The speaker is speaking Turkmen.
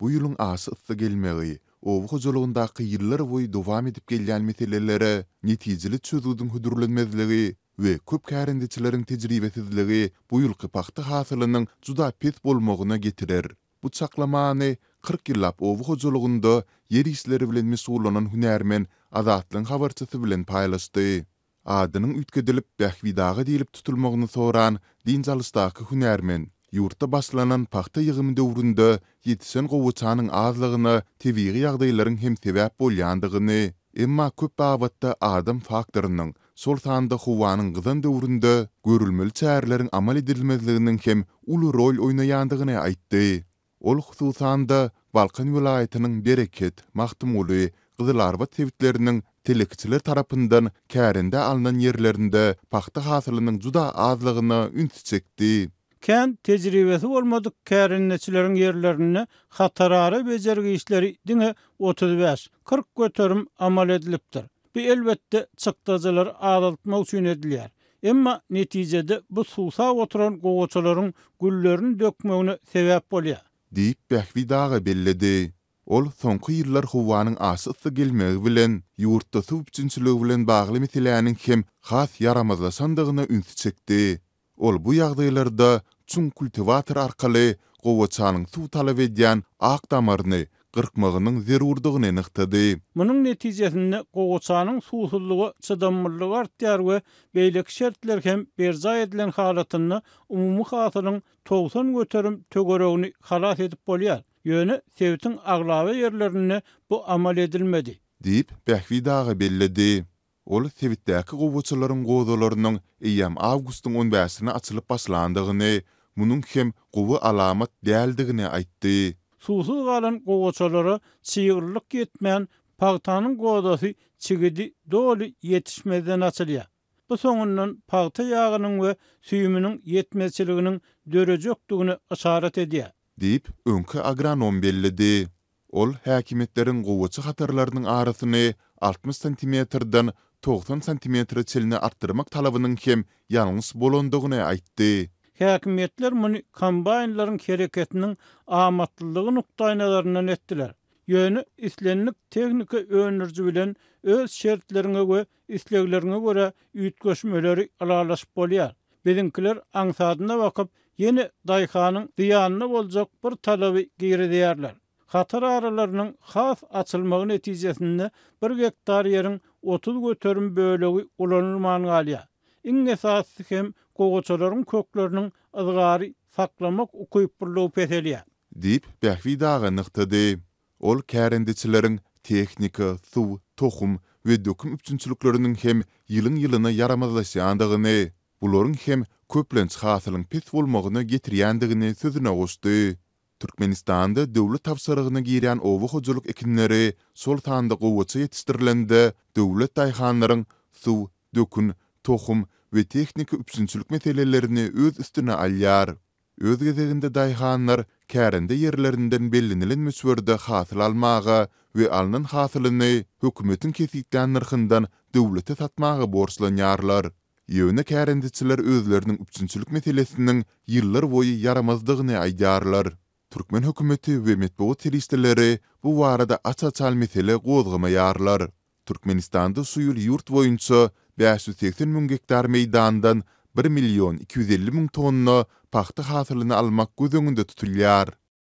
Bu ýylyň aşa yssy gelmegi, oba hojalygyndaky ýyllarboýy dowam edip gelýän meselelere netijeli çözgüdiň hödürlenmezligi we köp kärendeçileriň tejribesizligi bu ýylky pagta hasylynyň juda pes bolmagyna getirer. Bu çaklamany kyrk ýyllap oba hojalygynda ýer işleri bilen meşgullanan hünärmen Azatlygyň habarçysy bilen paýlaşdy. Adynyň üýtgedilip Bähbit aga diýlip tutulmagyny soran dynç alyşdaky hünärmen, ýurtda başlanan pagta ýygymy döwründe ýetişen gowaçanyň azlygyna tebigy ýagdaýlaryň hem sebäp bolýandygyny, emma köp babatda adam faktorynyň, şol sanda howanyň gyzan döwründe görülmeli çäreleriň amal edilmezliginiň hem uly rol oýnaýandygyny aýtdy. Ol hususan-da, Balkan welaýatynyň Bereket, Magtymguly, Gyzylarbat sebitleriniň telekeçiler tarapyndan kärendä alnan ýerlerinde pagta hasylynyň juda azlygyna ünsi çekdi. Kän tejribesi bolmadyk kärendeçileriň ýerlerinde hatarara bejergi işleri diňe otuz bäş, kyrk göterim amal edilipdir. Bu elbetde çykdajylary azaltmak üçin edilýär. Emma netijede bu suwsap oturan gowaçalaryň güllerini dökmegine sebäp bolýar. Diýip Bähbit aga belledi. Ol soňky ýyllar howanyň aşa yssy gelmegi bilen ýurtda suw üpjünçiligi bilen bagly meseläniň hem has ýaramazlaşandygyna ünsi çekdi. Ol bu ýagdaýlarda çuň kultiwator arkaly gowaçanyň suw talap edýän ak damaryny gyrkmagynyň zerurdygyny nygtady. Munuň netijesinde gowaçanyň suwsuzlyga çydamlylygy artýar we beýleki şertler hem berjaý edilen halatynda umumy hasylyň togsan göterim töweregini halas edip bolýar. Ýöne sebitiň aglaba ýerlerinde bu amal edilmedi. Diýip, Bähbit aga belledi. Ol sebitdäki gowaçalaryň gozalarynyň eýýäm awgustyň on bäşinde açylyp başlandygyny, munuň hem gowy alamat däldigini aýtdy. Suwsuz galan gowaçalara çyglylyk ýetmän, pagtanyň gozasy çigidi doly ýetişmezden açylýar. Bu soňundan pagta ýagynyň we süýüminiň ýetmezçiliginiň dörejekdigine yşarat edýär. Diýip, öňki agronom belledi. Ol häkimiýetleriň gowaça hatarlarynyň arasyny altmyş santimetrden togsan santimetre çenli artdyrmak talabynyň hem ýalňyş bolandygyny aýtdy. Häkimiýetler muny kombaýnlaryň hereketiniň amatlylygy nukdaýnazaryndan etdiler. Ýöne islendik tehnika öndüriji bilen öz şertleriňe we islegleriňe görä üýtgeşmeleri ylalaşyp bolýar. Biziňkiler aňsadyna bakyp, ýene daýhanyň zyýanyna boljak bir talaby girizýärler. Hatar aralarynyň has açylmagy netijesinde bir gektar ýeriň otuz göterim bölegi ulanylman galýar. Iň esasysy hem gowaçalaryň kökleriniň yzgary saklamak ukyplylygy peselýär. Diýip, Bähbit aga nygtady. Ol kärendeçileriň tehnika, suw, tohum we döküm üpjünçilikleriniň hem ýylyň-ýylyna ýaramazlaşýandygyny, bularyň hem köplenç hasylyň pes bolmagyna getirýändigini sözüne goşdy. Türkmenistanda döwlet tabşyrygyna girýän oba hojalyk ekinleri, şol sanda gowaça ýetişdirilende, döwlet daýhanlaryň suw, dökün, tohum we tehnika üpjünçilik meselelerini öz üstüne alýar. Öz gezeginde daýhanlar kärende ýerlerinden bellenilen möçberde hasyl almaga we alnan hasylyny hökümetiň kesgitlän nyrhyndan döwlete satmaga borçlanýarlar. Ýöne kärendeçiler özleriniň üpjünçilik meselesiniň ýyllar boýy ýaramazdygyny aýdýarlar. Türkmen hökümeti we metbugat serişdeleri bu barada aç-açan mesele gozgamaýarlar. Türkmenistanda şu ýyl ýurt boýunça bäş ýüz segsen müň gektar meýdandan bir million iki ýüz elli müň tonna pagta hasylyny almak göz öňünde tutulýar.